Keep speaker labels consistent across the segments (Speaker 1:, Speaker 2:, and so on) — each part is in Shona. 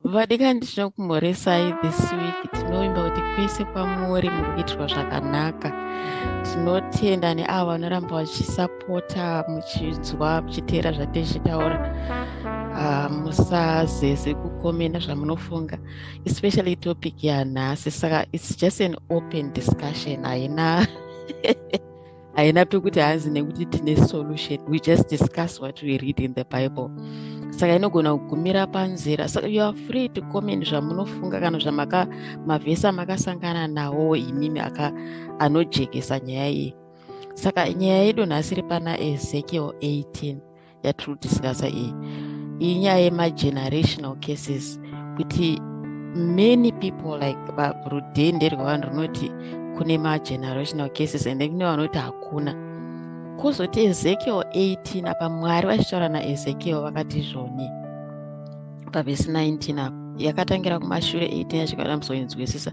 Speaker 1: vadikani tinokumhoresai this week tinovimba kuti kwese kwamuri muri kuitirwa zvakanaka tinotenda neavo vanoramba vachisapota muchinzwa muchiteera zvatechitaura ah, musazeze kukomenda zvamunofunga especially topic yanhasi saka its just an open discussion haina haina pekuti hanzi nekuti tine solution we just discuss what we read in the bible saka inogona kugumira panzira saka you are free to comment zvamunofunga kana zvamaka mavhesi amakasangana nawo imimi aka anojekesa nyaya iyi saka nyaya yedu nhasi iri pana ezekiel 18 yatiri kudiscasa iyi iyi nyaya yemagenerational cases kuti many people like rudhende rwevanhu runoti kune magenerational cases and then kune vanoti hakuna kozoti ezekiel 18 apa mwari vachitaura naezekiel vakati zvoni pavhesi 19 apa yakatangira kumashure 18 yachikada muzoinzwisisa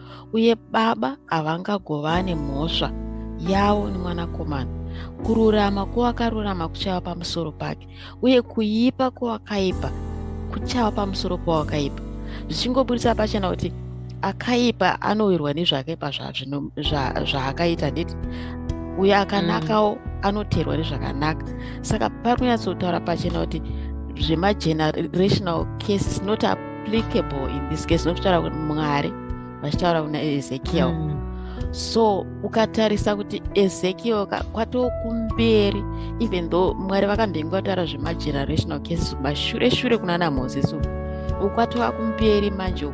Speaker 1: uye baba havangagovane mhosva yavo nemwanakomana kururama kwowakarurama kuchava pamusoro pake uye kuipa kwowakaipa kuchava pamusoro powakaipa zvichingoburitsa pachena kuti akaipa anowirwa nezvakaipa zvaakaita nditi uyo akanakawo mm. anoteerwa nezvakanaka saka pari kunyatsotaura pachena kuti zvemagenerational cases not applicable in this case nokutaura kuti mwari vachitaura kuna ezekiel mm. so ukatarisa kuti ezekiel kwatokumberi even though mwari vakambenge vataura zvemagenerational cases mashure shure kuna ana moses ukwatova kumberi manje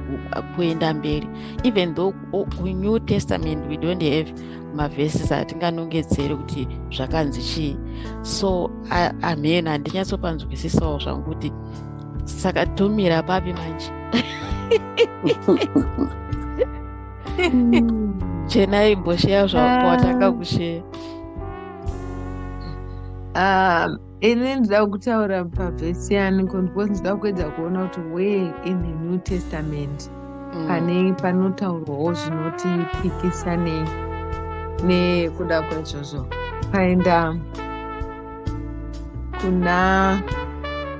Speaker 1: kuenda mberi even though kunew testament we don't have mavesis atinganongedzeri kuti zvakanzi chii so amhena handinyatsopanzwisisawo zvangu kuti saka tomira papi manje chenai imbosheya zvawatanga ah. kusheya
Speaker 2: ah, ini ndida kutaura pavhesi yani because ndida kuedza kuona kuti where in the new testament mm. pane panotaurwawo zvinoti pikisa nekuda kwaizvozvo paenda kuna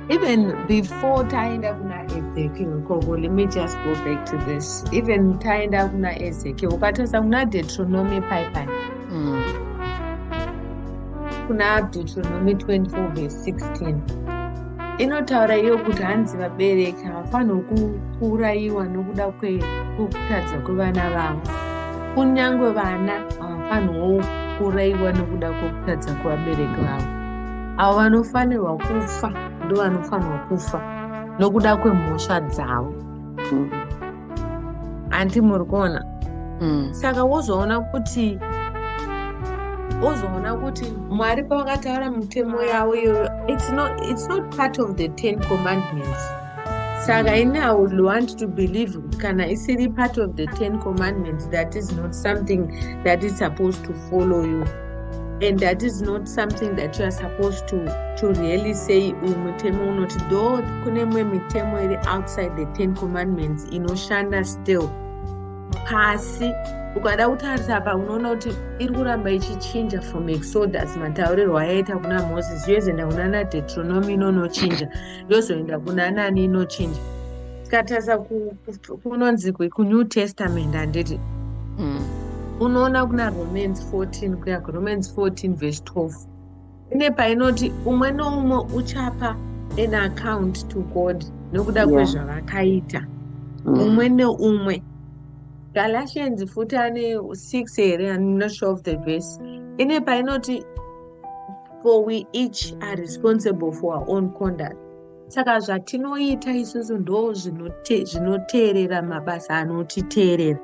Speaker 2: even before taenda kuna ezekiel koko let me just go back to this even taenda kuna ezekiel ukatarisa kuna deuteronomy paipai mm. kuna deuteronomy 24 verse 16 inotaura iyo kuti hanzi vabereki havafanirwe kuurayiwa nokuda kwekutadza kwevana vavo kunyange vana havafanirwo kuurayiwa nokuda kwekutadza kwevabereki vavo avo vanofanirwa kufa ndovanofanirwa kufa nokuda kwemhosva dzavo mm. hanti muri kuona mm. saka wozoona kuti wozoona kuti mwari pavakataura mitemo yavo iyoyo it's not, it's not part of the ten commandments saka ini i would want to believe kana isiri part of the ten commandments that is not something that is supposed to follow you and that is not something that you are supposed to to really say uyu mutemo unoti though kune mwe mitemo iri outside the ten commandments inoshanda still pasi ukada kutarisa apa unoona kuti iri kuramba ichichinja from exodus mataurirwo ayaita kuna moses yozoenda kuna na deuteronomy inonochinja yozoenda kuna nani inochinja tikatarisa kunonzi kunew testament handiti mm. unoona kuna romans 14 kuya kuromans 14 vhesi 12 ine painoti umwe noumwe uchapa an account to god nokuda yeah. kwezvavakaita mm. umwe neumwe galatians futi ane 6 here im not sure of the vhesi ine painoti for we each are responsible for our own conduct saka zvatinoita isusu ndo zvinoteerera mabasa anotiteerera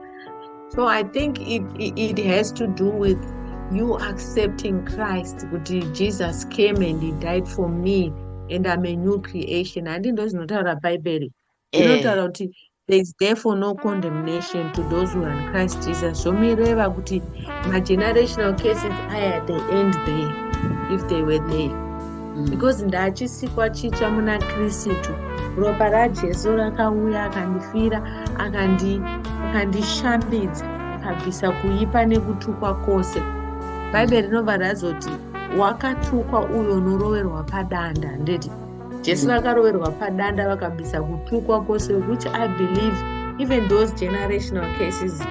Speaker 2: so i think it, it, it has to do with you accepting christ kuti jesus came and he died for me and i'm a new creation handi ndo zvinotaura bhaibheri eh. inotaura kuti there is therefore no condemnation to those who are in christ jesus zvomireva kuti magenerational cases aya they end there if they were there mm. because ndachisikwa chitsva muna kristu ropa rajesu rakauya akandifira akandishambidza akabvisa kuipa nekutukwa kwose bhaibheri rinobva razoti wakatukwa uyo unoroverwa padanda ndeti jesu vakaroverwa padanda vakabisa kutukwa kwose which i believe even those generational cases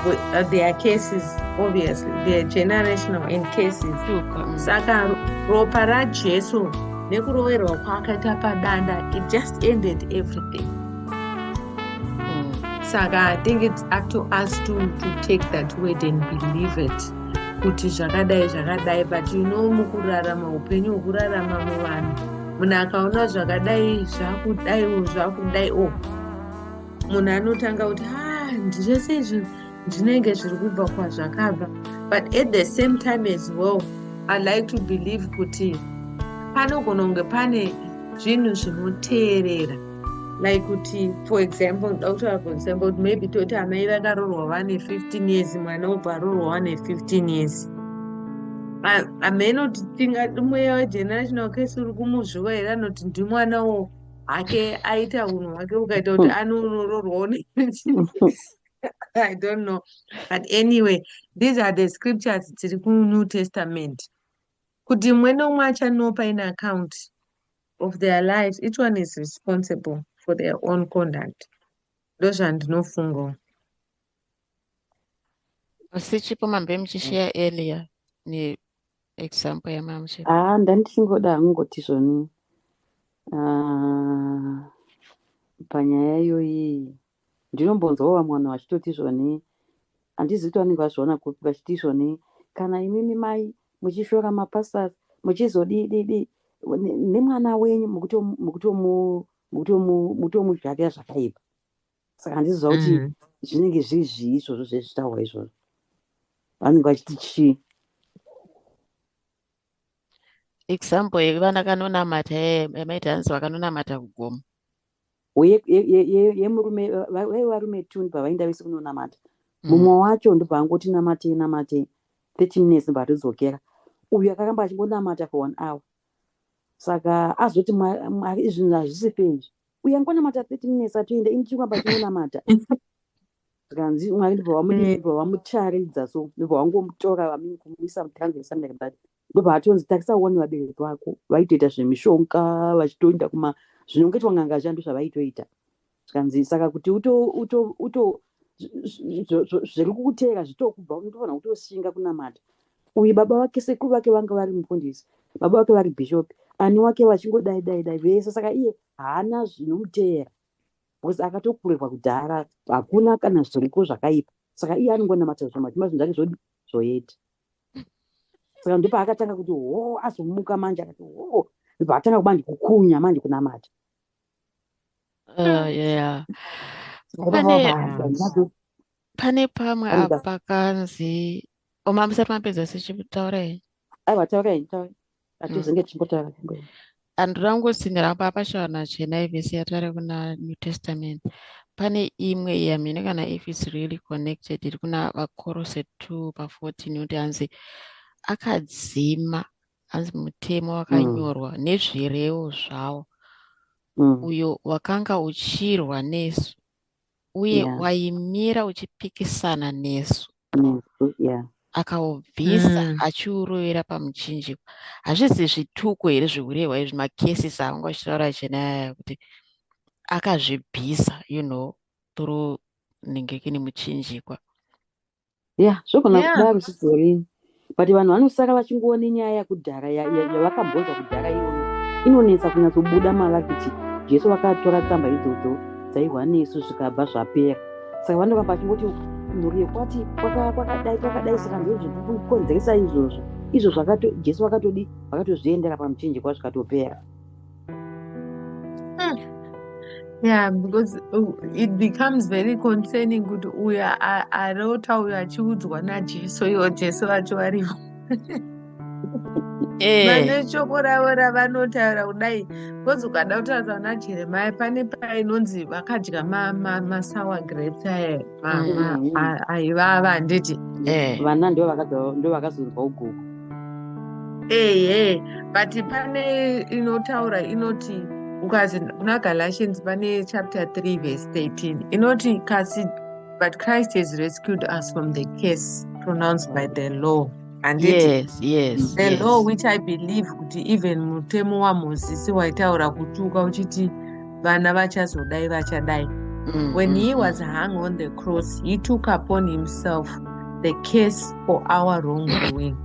Speaker 2: uh, they are cases obviously they are generational and cases mm. saka ropa rajesu nekuroverwa kwaakaita padanda it just ended everything mm. saka i think it's up to us to, to take that word and believe it kuti zvakadai zvakadai but you know mukurarama upenyu hwekurarama muvanhu munhu akaona zvakadai zvakudaiwo zvakudai o oh. munhu anotanga kuti ha ah, ndizvese izvi ndinenge zviri kubva kwazvakabva but at the same time as well i like to believe kuti panogona kunge pane zvinhu zvinoteerera like kuti for example ndoda kutaura for example kuti maybe toti amai vakarorwa vane 15 years mwana obva arorwa wane 15 years ameno tingati mweya wegenerational case uri kumuzvuva here anoti ndimwanawo hake aita unhu hwake ukaita kuti hmm. ani unororwawo i don't know but anyway these are the scriptures dziri kunew testament kuti mumwe nomwe achanopa in account of their lives each one is responsible for their own conduct ndozvandinofungawo
Speaker 1: asi chipo mambe muchisheya earlier neexample yamamshe haa ah, ndandichingoda
Speaker 3: hangoti zvoni ah, panyaya iyoyi Ndinombonzwawo vamwe vanhu vachitoti izvoni handizivi kuti vanenge vazviona kupi vachiti izvoni kana imimi mai muchishora mapastors muchizodii dii dii ne- nemwana wenyu mukutomu- mukutomu- mukutomu- mukutomuzvarira zvakaipa saka handiziva kuti Mm. zvinenge zviri zvii izvozvo zvezvitaurwa izvozvo vanenge vachiti chii
Speaker 1: Example yevana kanonamata eh, maiti hanzi vakanonamata kugomo. yemurume
Speaker 3: ye, ye, ye, vaive varume tun pavainda vese kunonamata mm. mumwe mm. wacho ndobva angoti namatei namatei thirty minutes ndobva atodzokera uyu akaramba achingonamata for one hour saka azoti mwari izvinhu hazvisi fezvi uye angonamata thirty minutes atoenda ini chikuramba chingonamata zvikanzi mwari ndobva mm. vamucharidza so ndobva vangomutora vamini kumuisa mutranzesandakadati ndobva atonzi takisa one vabereki vako vaitoita zvemishonga vachitoenda kuma zvinongetwa nganga zviya ndo zvavaitoita zvikanzi saka kuti uto uto uto zviri kukuteera zvitokubva unotofanira kutoshinga kunamata uyu baba vake sekuru vake vanga vari mufundisi baba vake vari bhishopi ani wake vachingodai dai dai vese saka iye haana zvinomuteera because akatokurerwa kudhara hakuna kana zviriko zvakaipa saka iye anongonamata zvamati mazvinhu zvake zvodi zvoyeti saka ndipo akatanga kuti hoo azomuka manje akati hoo ndipo atanga kuba ndikukunya manje kunamata
Speaker 1: ah, pane pamwe apa pakanzi omamisati mapedza sichikutaurai aiwa taurai
Speaker 3: taurai atizenge mm. timbotaura
Speaker 1: and rangosinyira apa apashava nachena ivese yatari kuna new testament pane imwe yamhene kana if its really connected iri kuna vakorose two pafourteen yoti hanzi akadzima hanzi mutemo mm. wakanyorwa mm. nezvirevo zvawo mm. uyo wakanga uchirwa nesu uye yeah. waimira uchipikisana nesu yeah akaubvisa mm. achiurovera pamuchinjikwa hazvizi zvituko here zviurehwa izvi macases aanga achitaura chenaya kuti akazvibvisa you know through nenge kini muchinjikwa ya
Speaker 3: yeah, zvogona yeah. kudaro zvizorini but vanhu vanosara vachingoone nyaya yakudhara yavakabhonza kudhara iyoyo inonetsa kunyatsobuda mavari kuti jesu vakatora tsamba idzodzo dzaihwa nesu zvikabva zvapera saka vanoramba vachingoti mhuri yekwati kwakadai kwakadai saka ndozvikukonzeresa izvozvo izvo jesu vakatodi vakatozviendera pamuchinjikwa zvikatopera
Speaker 2: yeah because uh, it becomes very concerning kuti uyo arota uyo achiudzwa najesu iwo jesu vacho varivo eh. vane shoko ravo ravanotaura kudai bcause ukada kutaura na jeremia pane painonzi vakadya masour grapes aya mm. aivava handiti eh. vana
Speaker 3: ndo vakazonzwa ugogo ehe
Speaker 2: but pane inotaura inoti ukazi kuna galatians pane chapter 3 verse 13 inoti kasi but christ has rescued us from the case pronounced by the law and yes, yes, the yes. law which i believe kuti even mutemo wamozisi waitaura kutuka uchiti vana vachazodai vachadai mm, when mm, he mm. was hung on the cross he took upon himself the case for our wrong doing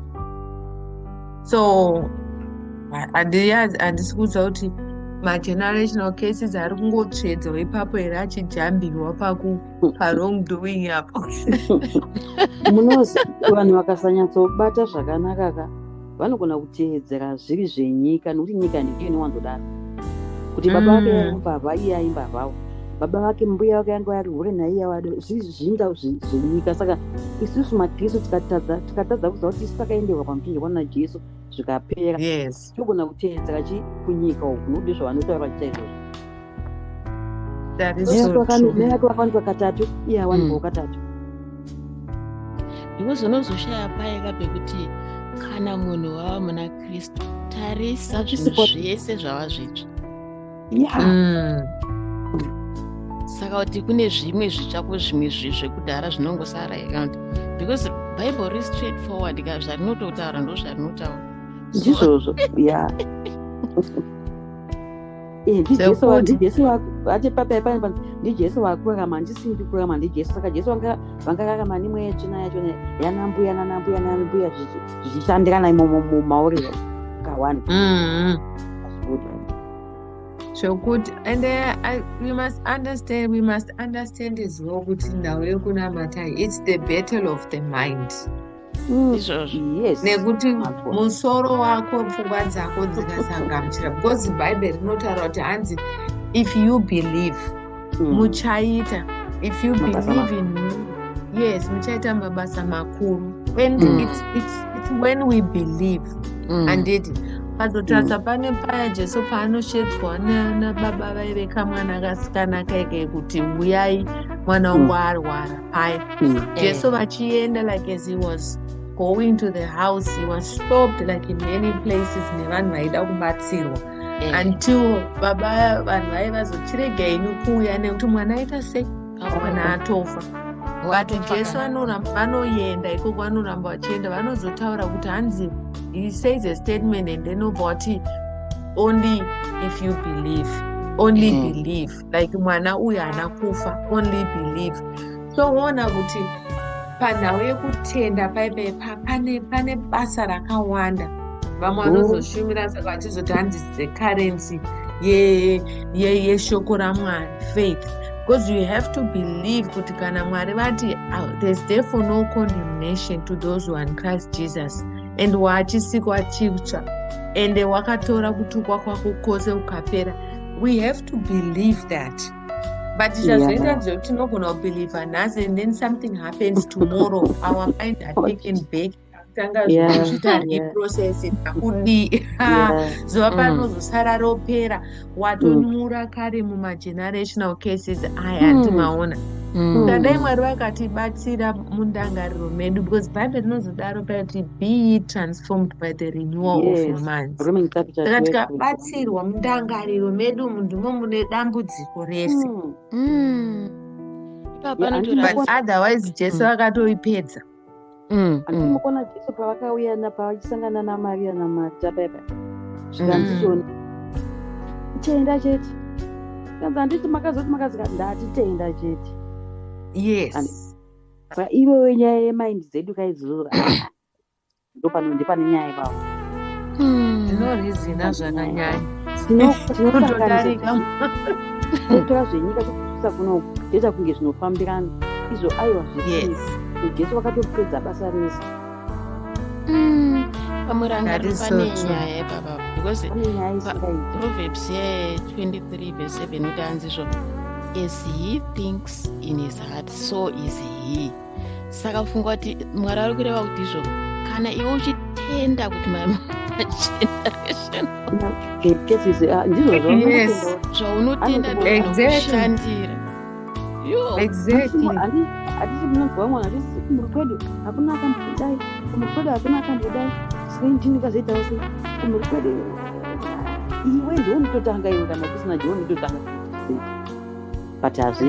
Speaker 2: so handisi kuudza kuti magenerational cases ari kungotsvedzwa ipapo here achijambirwa pawrong doing apo
Speaker 3: munozi vanhu vakasanyatsobata zvakanaka ka vanogona kuteedzera zviri zvenyika nokuti nyika ndiyo inowanzodaro kuti baba vake mm. mbavha iye aimbavhawo baba vake mbuya vake yanga vari hure naiye wado zviri zvinda zvenyika saka isusu makristu tikatadza tikatadza kuziva kuti isu takaenderwa pamuchinjirwa najesu zvikapera togona kuteedzera chi kunyika uku nokuti zvavanotaura chaizvozvo katatu iya wanhu mm. katatu
Speaker 1: because unozoshaya paye kabe kuti kana munhu wava muna kristu tarisa zvinhu zvese zvava zvitsva mm. saka kuti kune zvimwe zvitsva kuzvimwe zvekudhara zvinongosara here kana kuti because bible ri straight forward ka zvarinototaura ndo zvarinotaura ndizvozvo
Speaker 3: ya Eh, ndijesu wakurama handisi ndikurama ndijesu saka jesu vangararama nemweya tsvina yacho yanambuya nanambuya nanambuya zvichishandirana imomo mumauriro kawani
Speaker 2: zvokuti mm-hmm. and uh, we must understand we must understand as well kuti nhau yekunamatai its the battle of the mind Mm, izvozvo yes nekuti Mako. musoro wako pfungwa dzako dzikasangamuchira because bhaibheri rinotaura kuti hanzi if you believe Mm. muchaita if you Mabasa believe in me yes muchaita mabasa makuru and Mm. it's, it's, it's when we believe Mm. handiti pazotarisa pane paya jesu paanoshedzwa na- nababa vaive kamwana kasikana kaike kuti huyai mwana wangu arwara paye mm. jesu vachienda like as he was going to the house he was stopped like in many places nevanhu vaida kubatsirwa eh. until baba vanhu vaye vazochirega inu kuuya nekuti mwana aita sei mwana oh. atofa vati jesu anoramba vanoenda ikoko vanoramba vachienda vanozotaura kuti hanzi he says a statement and then obva wati only if you believe only mm. believe like mwana uyu haana kufa only believe so woona kuti panhau yekutenda paipaipa pane pane basa rakawanda vamwe oh. vanozoshumira saka vachizoti hanzi the currency yeshoko ramwari faith because you have to believe kuti kana mwari vati ah, there's therefore no condemnation to those who are in christ jesus and waachisiko achitsva ende wakatora kutukwa kwako kwose ukapera we have to believe that but zvazoita yeah. zvekuti tinogona kubelieve nhasi and then something happens tomorrow our mind are taken back tanga zviita reprocess akudii zuva panozosara mm. ropera watonyura mm. kare mumagenerational cases aya mm. andimaona ukadai mm. mwari vakatibatsira mundangariro medu because bible rinozodaro pakuti be transformed by the renewal yes. of your mindsaka tikabatsira kubatsirwa mundangariro medu umu ndimo mune dambudziko rese mm. Mm. but otherwise jesu mm. akatoipedza
Speaker 3: andimukona mm, mm. jesu pavakauya napavachisangana namaria namata paipa zvikanzishoni mm. tenda chete kanzi handiti makazoti makazika ndati tenda chete yes saka iwewe nyaya yemind dzedu kaizozora ndopano ndipane nyaya ipapo hmm. zvinorhizina
Speaker 2: zvakanyanya tinotodarika
Speaker 3: kutora zvenyika kuisa kunoku ndoita kunge zvinofambirana izvo aiwa zvisizi jesu vakatopedza basa rese hmm.
Speaker 1: pamurangarovenyayaiproverbs ye23 vese 7 utanzi zvo as he thinks in his heart so is he saka funga kuti mwari ari kureva kuti izvo kana iwe uchitenda kuti mai
Speaker 3: zvaunotenda
Speaker 1: ndokushandira
Speaker 2: hatisi
Speaker 3: munonzwa mwana hatisi kumuri kwedu hakuna akambodai kumuri kwedu hakuna akambodai sei ndini kazoitawo sei kumuri kwedu iwe ndiwe unototanga iwe kana kusina ndiwe unototanga but hazvii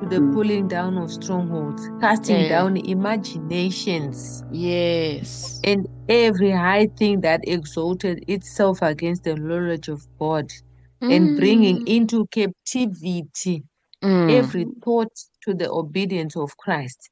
Speaker 2: to the mm. pulling down of strongholds, casting yeah. down imaginations. Yes.
Speaker 1: And every
Speaker 2: high thing that exalted itself against the knowledge of God, mm. and bringing into captivity mm. every thought to the obedience of Christ.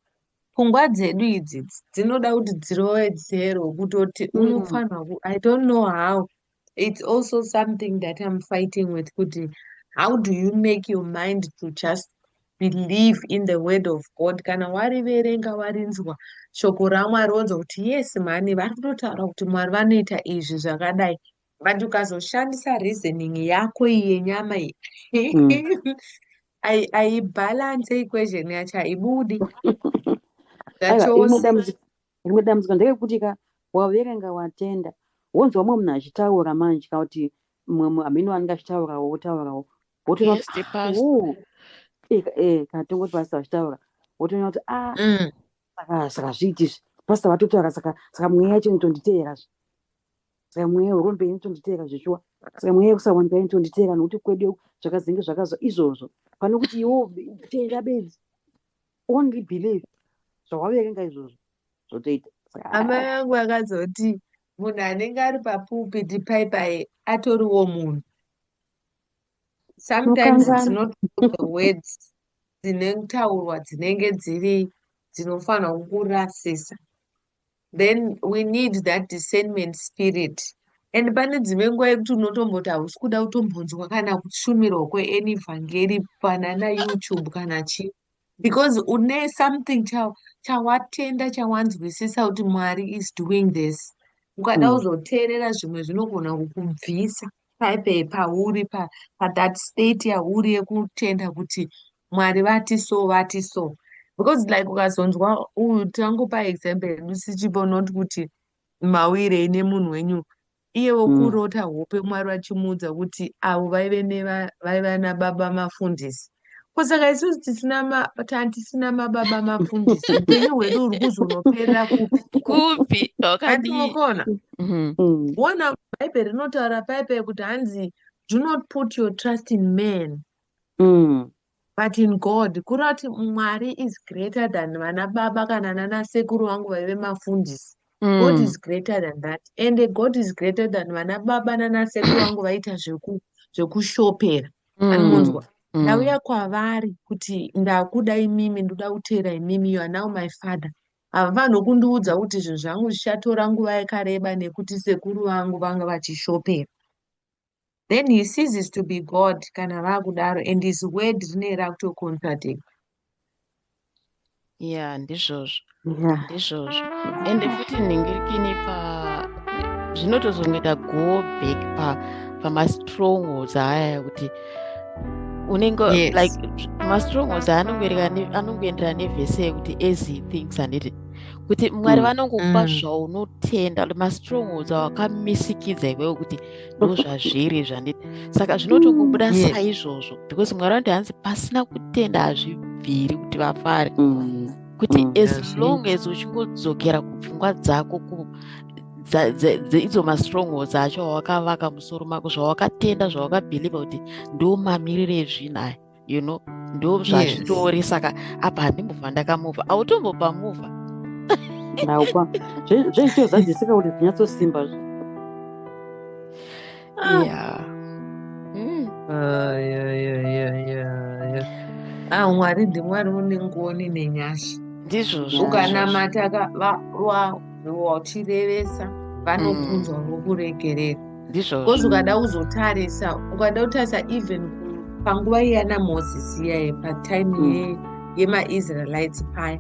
Speaker 2: pfungwa dzedu idzi dzinoda kuti dzirowedzerwe kutoti mm. unofanirwa i don't know how it's also something that i'm fighting with kuti how do you make your mind to just believe in the word of god kana wariverenga warinzwa shoko ramwari wonzwa kuti yes mhani vari kutotaura kuti mwari vanoita izvi zvakadai but ukazoshandisa reasoning yako yenyama iyi mm. aibhalanse equation yacho haibudi zvachose
Speaker 3: rimwe dambudziko nderekuti ka waverenga watenda wonzwa mumwe munhu achitaura manje kana kuti mumwe munhu amene wanenge achitaurawo wotaurawo wotoona kuti ah, oh. eh, eh, kana tongoti pasita vachitaura wotoona kuti a ah, mm. saka saka zviiti izvi pasita vatotaura saka saka mweya yacho inotonditeera zve saka mweya werombe inotonditeera zveshuwa saka mweya yekusawanika inotonditeera nokuti kwedu zvakazenge zvakazwa izvozvo pane kuti iwo tenda bedzi only believe zvawaverenga izvozvo zvotoita amai vangu
Speaker 2: vakazoti munhu anenge ari papulpit paipai atoriwo munhu sometimes it's not the words dzine kutaurwa dzinenge dziri dzinofanirwa kukurasisa then we need that discernment spirit and pane dzimwe nguva yekuti unotomboti hausi kuda kutombonzwa kana kushumirwa kweany vhangeri panana youtube kana chii because une something chawatenda chawanzwisisa kuti mwari is doing this ukada mm. kuzoteerera zvimwe zvinogona kukubvisa paipe pauri pa, pathat state yauri yekutenda kuti mwari vati so vati so because like ukazonzwa uyu tangopa example yedu sichipo not kuti mawirei nemunhu wenyu iye wokurota mm. hope mwari vachimuudza kuti avo vaive vaiva nababa mafundisi ko saka isusu tisina matisina mababa mafundisi upenyu hwedu huri kuzonoperera kupi kupi
Speaker 1: wakadimokona
Speaker 2: mhm. mm. wona bhaibheri rinotaura paipe kuti hanzi do not put your trust in man mm. but in god kureva kuti mwari is greater than vana baba kana nana sekuru vangu vaive mafundisi mm. god is greater than that and god is greater than vana baba nana sekuru vangu vaita zvekushopera zveku mm. anonzwa mm. ndauya kwavari kuti ndakuda imimi ndoda kuteera imimi you are now my father havafanirwe kundiudza kuti zvinhu zvangu zvichatora nguva yakareba nekuti sekuru vangu vanga vachishopera then he ceases to be god kana vakudaro and his word rine rakutocontradict
Speaker 1: ya ndizvozvo ndizvozvo ende futi nhingirikini pa zvinotozongoita go back pa pamastrongholds aya kuti unenge yes. like mastrongholds aya anongoenderana nevhese yekuti as he thinks and it kuti mwari mm. vanongokupa mm. zvaunotenda mastrongholds awakamisikidza iwewe kuti ndozvazviri zvandi saka zvinotongobuda mm, yes. saizvozvo because mwari vanoti hanzi pasina kutenda hazvibviri kuti vafare mm. kuti mm, as yes. long as uchingodzokera kupfungwa dzako ku idzo mastrongholds acho awakavaka musoro mako zvawakatenda zvawakabhiliva kuti ndo mamiriro ezvinhu aya you know ndo zvazvitori yes. saka apa handimbova ndakamuva autombopa muva naukwa
Speaker 3: zveitozadzisika kuti zvinyatsosimba zve ah. yeah. mm. uh,
Speaker 2: yeah, yeah, yeah, yeah, yeah. ah mwari ndimwari une ngoni nenyasha ndizvozvo
Speaker 1: ukanamata
Speaker 2: watirevesa vanokunzwa mm. vokuregerera ndizvo because ukada kuzotarisa ukada kutarisa even panguva iyana moses iyaye patime mm. yemaisraelites paya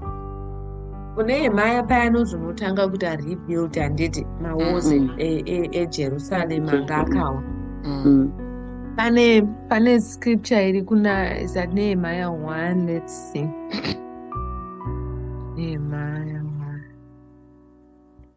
Speaker 2: kune yemaya paya anozonotanga kuti arebuild handiti mawosi mm -hmm. ejerusalem e, e, e anga akawa mm. mm. pane pane scripture iri kuna is that nehemaya one let's see nehemaya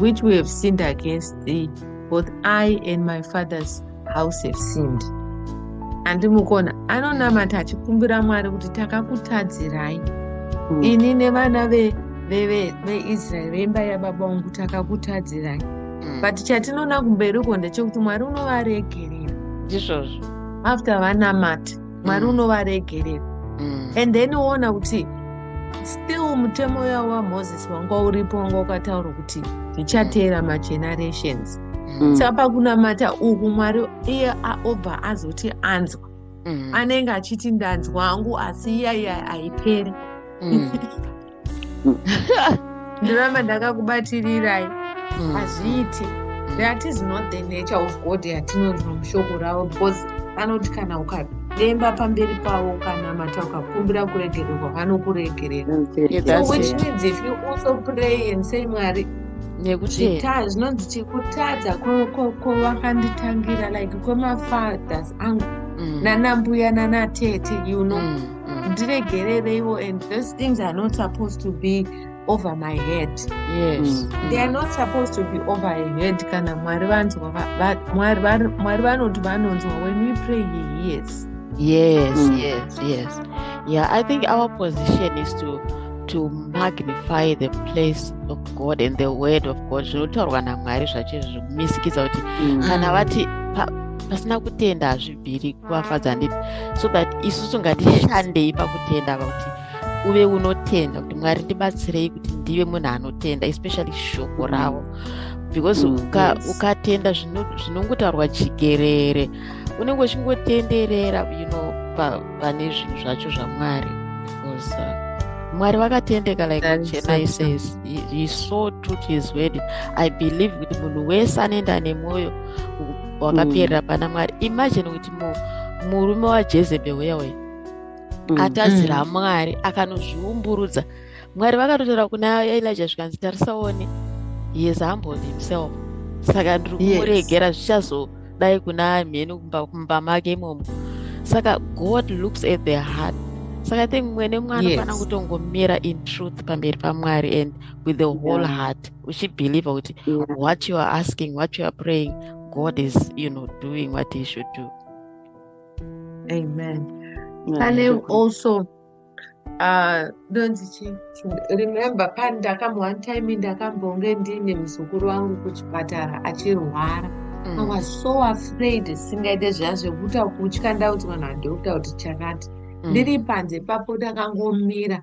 Speaker 2: which we have sinned against thee both i and my father's house have sinned andimukona anonamata achikumbira mwari kuti takakutadzirai mm. ini nevana veisraeri veimba yababa vangu takakutadzirai mm. but chatinoona kumberi uko ndechekuti mwari unovaregerera ndizvozvo
Speaker 1: after
Speaker 2: vanamata mwari mm. unovaregerera mm. and then woona kuti still mutemo uya wamoses wanga uripo wanga ukataura kuti zvichateera mm. magenerations mm. saka pakunamata uku mwari iye obva azoti anzwa mm. anenge achiti ndanzwa angu asi iyaiya haiperi mm. ndiramba ndakakubatirirayii Mm. hazviiti that is not the nature of god yatinonzwa mushoko ravo because vanoti kana ukademba pamberi pavo ukanamata ukakumbira kuregererwa vanokuregerera so which means if you also pray and say mwari zvinonzi chikutadza kwavakanditangira like kwemafathers angu mm. nanambuya nanatete you know mm. mm. ndiregerereiwo mm. and those things are not supposed to be over my head yes. mm.
Speaker 1: they are not supposed
Speaker 2: to be over a head kana mwari vanzwa mwari vanoti vanonzwa when we pray he hears yes mm. yes
Speaker 1: yes yeah i think our position is to to magnify the place of god and the word of god zvinotaurwa namwari zvacho zvinomisikidza kuti mm. kana vati pasina kutenda hazvi bhiri kuvafadza ndii so that isusu ngatishandei pakutenda apa kuti uve unotenda kuti mwari ndibatsirei kuti ndive munhu anotenda especially shoko ravo because mm, ukatenda zvinongotaurwa chigerere unenge uchingotenderera you know pane zvinhu zvacho zvamwari because uh, mwari vakatendeka like chena says he, so took his word i believe kuti munhu wese anoenda nemwoyo wakaperera mm. pana mwari imagine kuti murume wajezebel uya uya mm. atadzira mm. mwari akanozviumburudza mwari vakatotaura kuna elija zvikanzi tarisaone yes humbled himself saka ndiri kumuregera yes. zvichazodai kuna mheni kumba make imomo saka god looks at the heart saka think mwene mwana yes. fanira kutongomira in truth pamberi pamwari and with the whole yeah. heart uchibhilivha kuti what you are asking what you are praying god is you know doing what he should do amen
Speaker 2: pane also uh, ndonzi chii remember pani ndakambo one time ndakambonge ndiine muzukuru wangu kuchipatara achirwara mm. i was so afraid singaite zviya zvekuta kutya ndauti vanhu vadokta kuti chakati mm. ndiri panze papo ndakangomira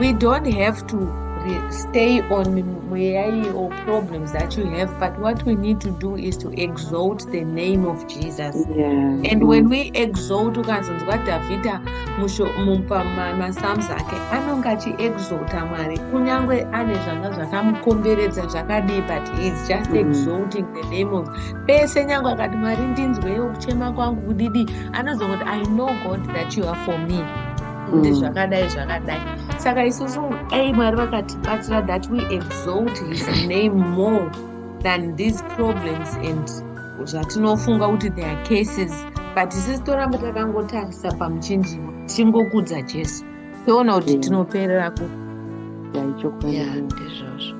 Speaker 2: we don't have to stay on mweyayi or problems that you have but what we need to do is to exalt the name of jesus yeah. and when we exalt ukazonzwa dhavhidha mupamapsalms ake anonge achiexalta mwari kunyange ane zvanga zvakamukomberedza zvakadii but heis just mm. exalting the name of pese nyange akati mwari ndinzweyo kuchema kwangu kudidi anozongoti i know god that you are for me kuti mm. zvakadai zvakadai saka isusu dai mwari vakatibatsira that we exalt his name more than these problems and zvatinofunga kuti there are cases but isisi toramba takangotarisa pamuchinjiro tichingokudza jesu toona kuti mm. tinoperera ku ndizvozvo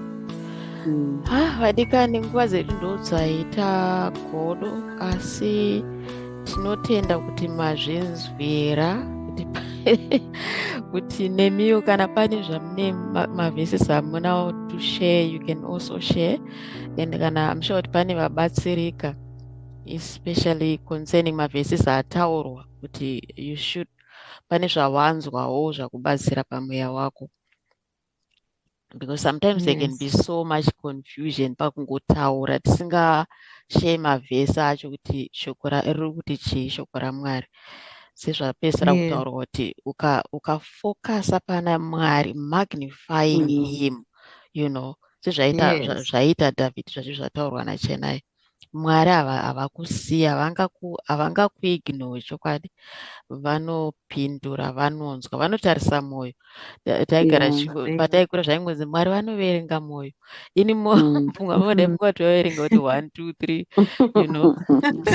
Speaker 2: mm. ah,
Speaker 1: vadikani nguva dzedu ndodzaita godo asi tinotenda kuti mazvinzwira kuti nemiwo kana pane zvamune maveses amunawo to share you can also share and kana am sure kuti pane vabatsirika especially concerning maveses ataurwa kuti you should pane zvawanzwawo zvakubatsira pamweya wako because sometimes yes. there can be so much confusion pakungotaura tisingashee mavhesi acho kuti shoko riri kuti chii shoko ramwari sezvapesera yeah. kutaurwa kuti ukafokasa uka pana mwari magnifying mm. him you know sezvaita yes. zvaita david zvazvi zvataurwa nachenai mwari havakusiya havangakuignowe chokwadi vanopindura vanonzwa vanotarisa mwoyo taigara pataikura zvaingonzi mwari vanoverenga mwoyo ini mumwe mm. vamodemukoti vaverenga kuti one two three you know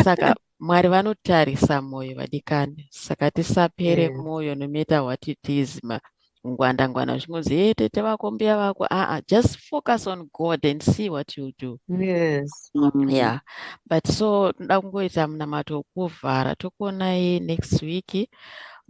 Speaker 1: saka Mwari vanotarisa moyo vadikani saka tisapere mm. moyo no matter what it is ma ngwanda ngwanda zvichingonzi hey tete vako mbuya vako aa ah, ah, just focus on god and see what you do yes mm.
Speaker 2: yeah
Speaker 1: but so tinoda kungoita munamato wokuvhara tokuonai next week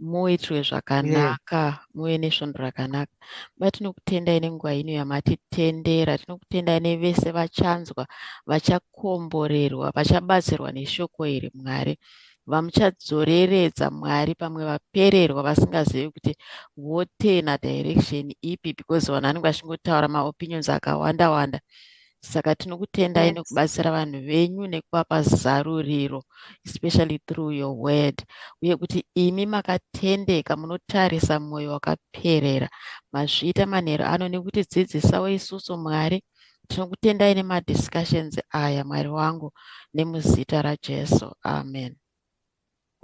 Speaker 1: muitwe zvakanaka yeah. muve nesvondo rakanaka ba tinokutendai nenguva ino yamatitendera tinokutendai nevese vachanzwa vacha vachakomborerwa vachabatsirwa neshoko iri mwari vamuchadzoreredza mwari pamwe vapererwa vasingazivi kuti votena direction ipi because vanhu vanenge vachingotaura maopinions akawanda wanda saka tinokutendai yes. nekubatsira vanhu venyu nekuvapa zaruriro especially through your word uye kuti imi makatendeka munotarisa mwoyo wakaperera mazviita manheru ano nekutidzidzisawo isusu mwari tinokutendai nemadiscussions aya mwari wangu nemuzita rajesu amen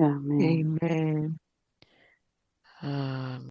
Speaker 1: amen, amen. Um,